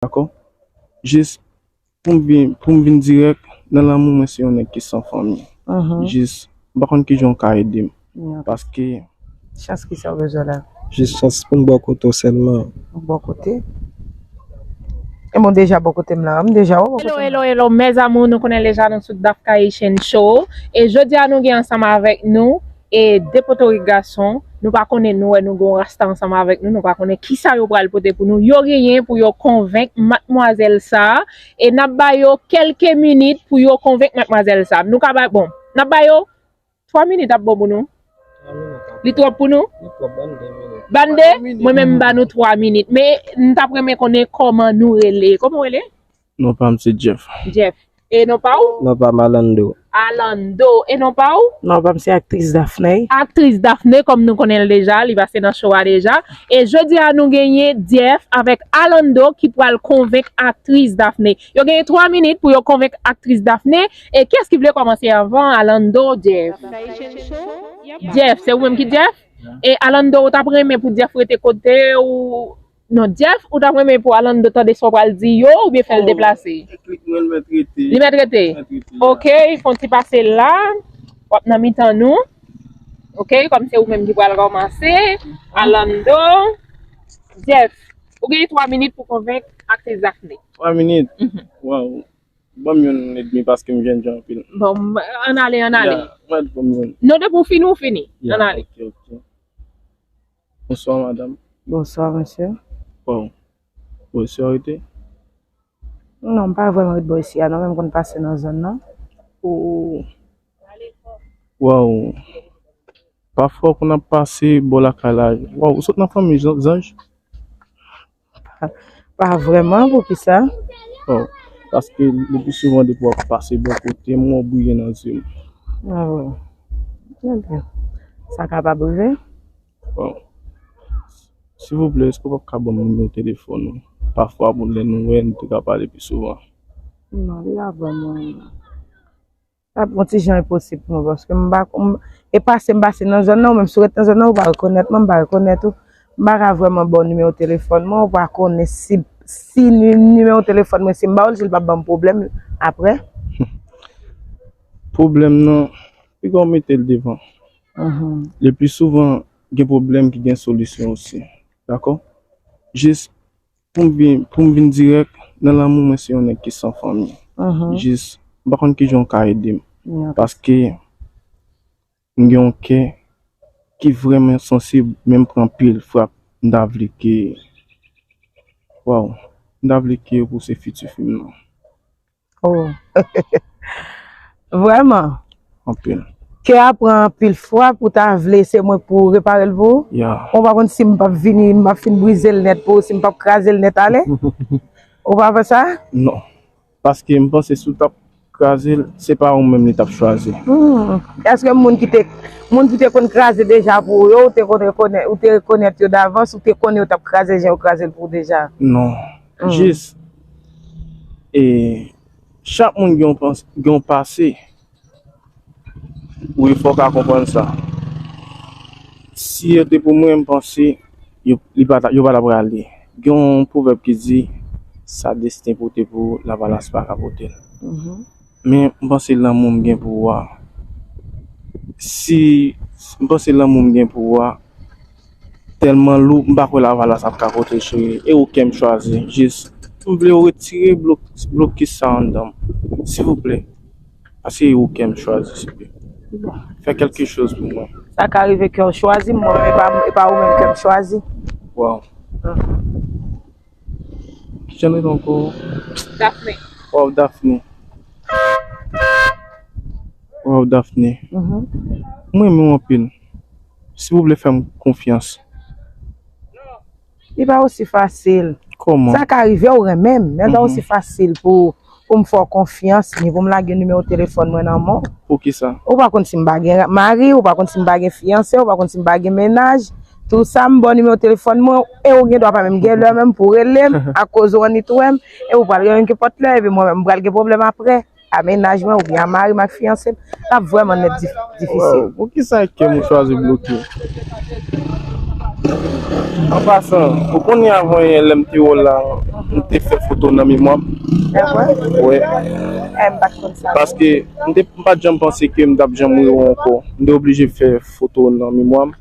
Dakò jis poum vin poum vin dirèk nan lanmou mwen se yon nèg ki san fanmi jis m pa konn kijan ou ka edem paske Chans kisa ou bezwen la? Jis chans poum bò kote w sèlman. Bò kote? Ebyen ou deja bò kotem la m deja wè w bò kotem la. Hello hello hello mes amours nou konnen deja nou sou Dapkhaitian show e jodia nou gen ansanm avèk nou E de potorik gason nou pa konnen nou wè nou gen yon rasta ansanm avèk nou nou pa konnen kisa yo pral pote pou nou yo genyen pou yo konvenk matmwazèl sa e nap ba yo kelke minit pou yo konvenk matmwazèl sa nou ka ba bon nap ba yo 3 minit ap bon pou nou li twòp pou nou bann 2 mwen menm m ba nou 3 minit men m tap renmen konnen kòman nou rele kòman w rele. Non pa m se Jeff. Jeff. E non pa ou? Non pa m Alando. Alando. E non pa ou? Non pa m se aktris Daphney. Aktris Daphney kòm nou konnen l deja, li pase nan show a deja. E jodi a nou genyen Jeff avèk Alando ki pral konvenk aktris Daphney. Yo genyen 3 minit pou yo konvenk aktris Daphney. E kiyès ki vle kòmanse anvan Alando ou Jeff? Jeff. Se ou menm ki Jeff? E Alando ou t ap renmen pou Jeff rete kote ou Non Jeff ou tap renmen pou Alando tande sa w pral di yo oubyen fè l deplase? Li mèt rete? Ok fon ti pase la wap nan mitan nou ok kòm se ou menm ki pral kòmanse Alando Jeff ou gen 3 minit pou konvenk aktris Daphnée. 3 minit? Waw banm youn edmi paske m jènjan anpil. Bon an ale an ale. Non depi w fini w fini an ale. Bonswa madam. Bonswa mesye. Bon, bò isi ou rete? Non, m pa vrèman ret bò isi a non, men m konn pase nan zòn nan. Ooh! Waw! Pafwa ou konn ap pase bò lakay la. Waw, ou sot nan fanmi zanj? Pa vrèman poukisa? Oh paske le pi souvan depi wap pase bò kote m wè w briye nan zye m. Ah bon ebyen sa kapab rive. Bon silvouplè èske w pap ka banm nimewo telefòn ou pafwa pou lè nou wè nou te ka pale pi souvan. Non li la banm non. Sa bon ti jan enposib pou mwen paske m pa konn, e pase m pase nan zòn nan ou menm si w ret nan zòn nan ou pa rekonèt mwen, m pa rekonèt ou. M pa ka vrèman ba w nimewo telefòn mwen, ou pa konnen si si nimewo telefòn mwen si m ba w li si l pa ban m pwoblèm aprè. Pwoblèm nan, pi gwa w mete l devan. Lepli souvan gen pwoblèm ki gen solisyon osi. Dakò? Jis Poum vin dirèk nan lanmou mwen se yon nèg ki san fanmi jis m pa konn kijan ou ka edem paske m gen yon kè ki vrèman sansib men m pran anpil frap m ta vle ke waww m ta vle ke ou se fiti fim nan. Oh Vreman? Anpil. Kè a pran anpil fwa pou ta vle se mwen pou repare l pou ou? Ya. Ou pa konn si m pap vini, m pap fin brize l nèt pou ou, si m pap kraze l nèt ale? Ou pa pè sa? Non. Paske m panse si w tap kraze l, se pa ou menm li tap chwazi. Hum. Eske moun ki te moun ki te konn kraze deja pou ou yo, ou te konn rekonèt, ou te rekonèt yo davans, ou te konnen yo tap kraze jan yo kraze l pou ou deja? Non. Jis e chak moun gen yon pase wi fò w ka konprann sa. Si yo te pou mwen m panse yo pa ta prale. Gen yon pwovèb ki di sa desten pote pou lavalas pa ka pote l. Men m panse lanmou m gen pou ou a si m panse lanmou m gen pou ou a. Telman lou m pa kwè lavalas ap ka pote cheri e ou kem chwazi jis. M vle yo retire blokis sa anndanm silvouplè paske e ou kem chwazi souple fè kelke choz pou mwen. Sa ka rive kew chwazim mwen menm epa ou menm kem chwazi. Waw kijan l rele anko Daphné waw Daphné waw Daphné m renmenw anpil. Si ou vle fè m konfyans. Li pa osi fasil. Kòman? Sa ka rive ou renmen m, men li pa osi fasil pou pou m fè w konfyans ni pou m lage nimewo telefòn mwen nan men w. Poukisa? Ou pa konn si m pa gen mari, ou pa konn si m pa gen fiyanse, ou pa konn si m pa gen mennaj. Tou sa m ba w nimewo telefòn mwen e ou gen dwa pa menm gen lè menm pou w rele m akoz ou annik wè m e ou pral gen yon nenpòt lè epi mwen menm m pral gen pwoblèm aprè. a mennaj mwen oubyen a mari m ak fiyanse m, l ap vrèman nèt difisil. Waww poukisa Kem ou chwazi bloke? An pasan, ou konnen avan yè lèm te wè w la, m te fè foto w nan memwa m. Evre? Wi. Eh m pat konn sa. Paske m te m pat janm panse ke m tap janm wè w ankò. M te oblije fè foto w nan memwa m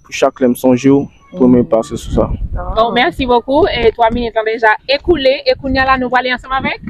pou chak lèm sonje w pou mwen pase sou sa. Bon, merci beaucoup. E 3 minit lan deja ekoule e kounya la nou prale ansanm avèk.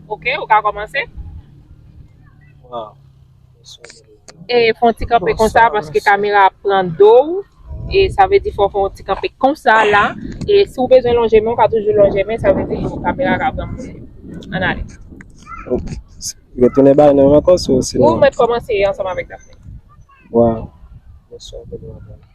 Ok ou ka komanse. Wow. E fon ti kanpe konsa paske kamera ap pran do ou. E sa vle di fò fon ti kanpe konsa la. E si ou bezwen lonje men ou ka toujou lonje men sa vle di kamera ka pran mouche. An ale. Ok. Yo tounen bay nan yon kòs ou sinon. Ou mèt komanse ansanm avèk Daphnée. Wow. Mwen sou anpil mwen.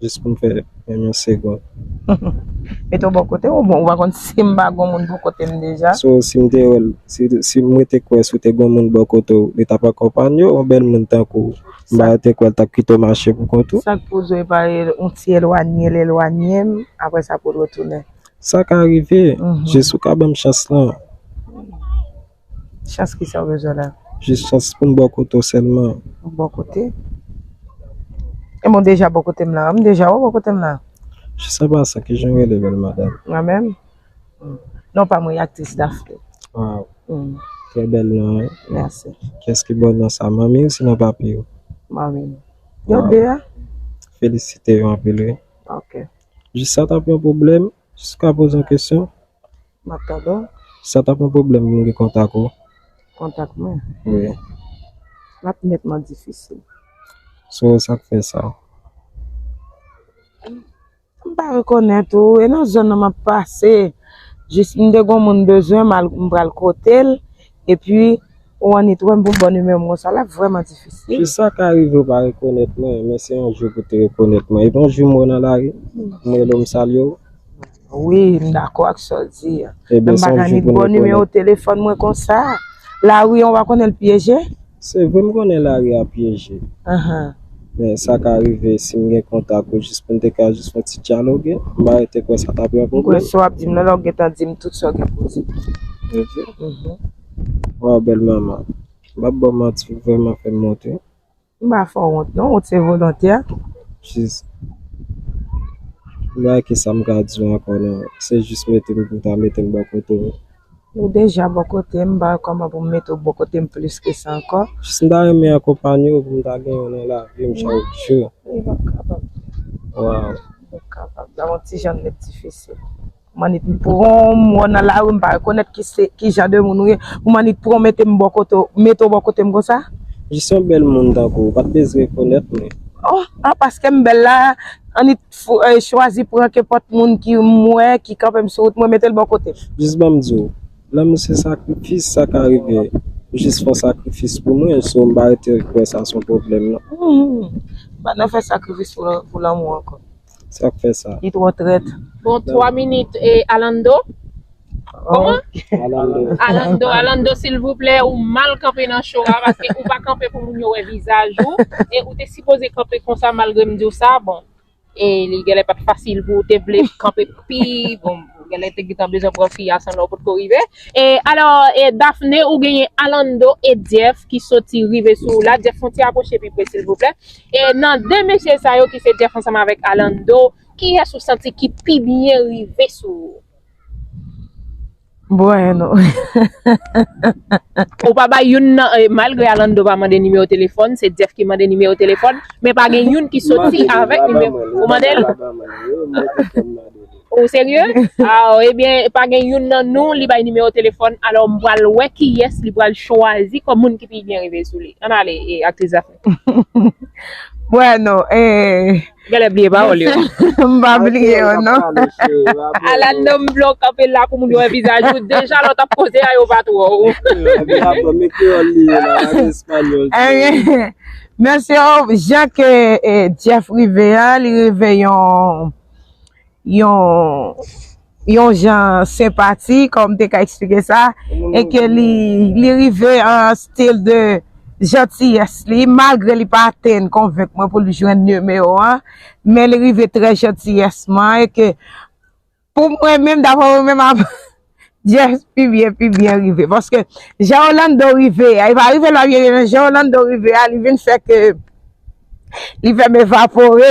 Jis pou m fè yon yon segond. Mete w bò kote w bon, ou pa konn si m pa gon moun bò kote m deja. So si m te wè l, si mwen te kwè si w te gon moun bò kote w, li t ap akonpanye w? Yon bèl moun tankou w, m pa te kwè l t ap kite w mache pou kont ou. Sa k pou w di w e pa yon ti elwanye l elwanye m, apre sa pou l retounen? Sa ka rive, jis ou ka ban m chans lan. Chans ki sa ou bezwen la? Jis chans pou m ba w kote w sèlman. M ba w kote? E mwen deja ba w kote m la. M deja wè ba w kote m la. Jis an pasan, ki jan w rele bèl madam? Mwen menm? Non pa mwen, aktris Daphnée. Waw! Trè bèl non wi. Mèsi. Kiyès ki ba w non sa? Manmi w si nan papi w? Manmi m. Yo de a? Felisite yo anpil wi. Ok. Jis sa t ap yon pwoblèm? Jis m ka poze yon kesyon? Map tande w. Sa tap yon pwoblèm pou m gen kontak ou? Kontak mwen? Wi. Lap nètman difisil. Sou sa k fè sa? M pa rekonèt ou e nan zòn nan map pase. Jis m te gon moun bezwen m al m pral kote l epi ou annik wè m pou m ba w nimewo m konsa lap vrèman difisil. Jis sa ka rive ou pa rekonèt mwen men se yon jou pou te rekonèt mwen. Epi yon jou m wè w nan lari, m rele w m salye w. Wi m dakò ak sa w di a. Men m pa gen ni bon nimewo telefòn mwen konsa. Lari an ou pa konnen l pyeje? Se vre m konnen lari a pyeje. Men sa ka rive si m gen kontak ou jis pou n te ka jis fè ti dyaloge. M pa rete kwè sa ta ap yon pwoblèm. M kwè sa w ap di m lan la ou gentan di m tout sa w gen pou w di m. Ok. Waw bèl manman. M pa p ba w manti ou vrèman fè m onti. M pa fè w wont non, wont se volontè. Jis, m pa wè ki sa m ka di w ankò non. Se jis mete m pou m ta mete m bò kote w. Ou deja bò kote m, m pa wè kòman pou m mete w bò kote m plis ke sa ankò. Jis m ta renmen akonpanye w pou m ta gen w nan lavi m chak jou. Li p ap kapab. Waww. Li p ap kapab. L ap yon ti jan met difisil. Manit m pranw m wè w nan lari m pa rekonèt ki jan de moun ou ye pou manit pranw mete m bò kote w mete w bò kote m konsa. Jis yon bèl moun tankou w pat bezwen rekonèt mwen. Oh ah paske m bèl la anit chwazi pran kenpòt moun ki m wè ki kanpe m sou wout mwen mete l bò kote m. Jis ban m di w lanmou se sakrifis sa ka rive ou jis fon sakrifis pou mwen so m pa rete kwè sa son pwoblèm non. Humm m pa nan fè sakrifis pou lanmou ankò. Sak fè sa? Li twò trèt. Bon 3 minit e Alando. Koman? Alando. Alando, Alando silvouplè ou mal kanpe nan show a paske ou pa kanpe pou moun yo wè vizaj ou e ou te sipoze kanpe konsa malgre m diw sa bon e li gèlè pat fasil pou ou te vle kanpe pi bon gèlè te gentan bezwen pran fi a san lè ou potko rive e alò e Daphné ou genyen Alando e Jeff ki soti rive sou ou la Jeff fon ti apwoche pi pre silvouplè E nan 2 mesye sa yo ki se Jeff ansanm avèk Alando, kiyès ou santi ki pi byen rive sou ou? Bueno. Ou pa bay youn nan malgre Alando pa mande nimewo telefòn, se Jeff ki mande nimewo telefòn, men pa gen youn ki soti avèk nimewo. Ou mande l? Ou serye? Aw ebyen pa gen youn nan nou li bay nimewo telefòn, alò m pral wè kiyès li pral chwazi kòm moun ki pi byen rive sou li. Ann ale aktris Dafne. Bueno, eh. Gèlè bliye pawòl yo. M pa bliye yo non. Ala nonm blan kanpe la pou moun yo wè vizaj ou. Deja lò tap koze a yo pa t wè w. Mesye, jan ke Jeff rive a, li rive yon yon yon jan senpati kòm m te ka eksplike sa e ke li li rive an an stil de jantiyès li malgre li pa atenn konvenk mwen pou l jwenn nimewo w an men li rive trè jantiyèsman e ke pou mwen menm daprè mwen menm ap Jess pi byen pi byen rive paske jan Orlando rive a e pa rive la byen byen jan Orlando rive a li vin fè ke li fè m evapore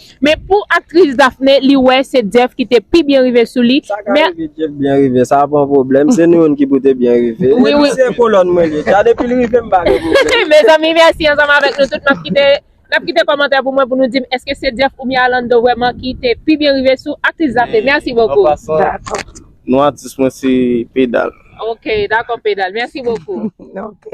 Men pou aktris Daphnée li wè se Jeff ki te pi byen rive sou li. Sa ka rive Jeff byen rive sa pa yon pwoblèm, se nou youn ki pou te byen rive. Wi wi. Se kolòn mwen ye dja depil rive m pa gen pwoblèm. Mezanmi mèsi ansanm avèk nou tout map kite nap kite kòmantè pou mwen pou nou dim eske se Jeff oubyen Alando vrèman ki te pi byen rive sou aktris Daphnée mèsi bokou. Dakò. Non atis mwen se pedal. Ok dakò pedal mèsi bokou. Ok.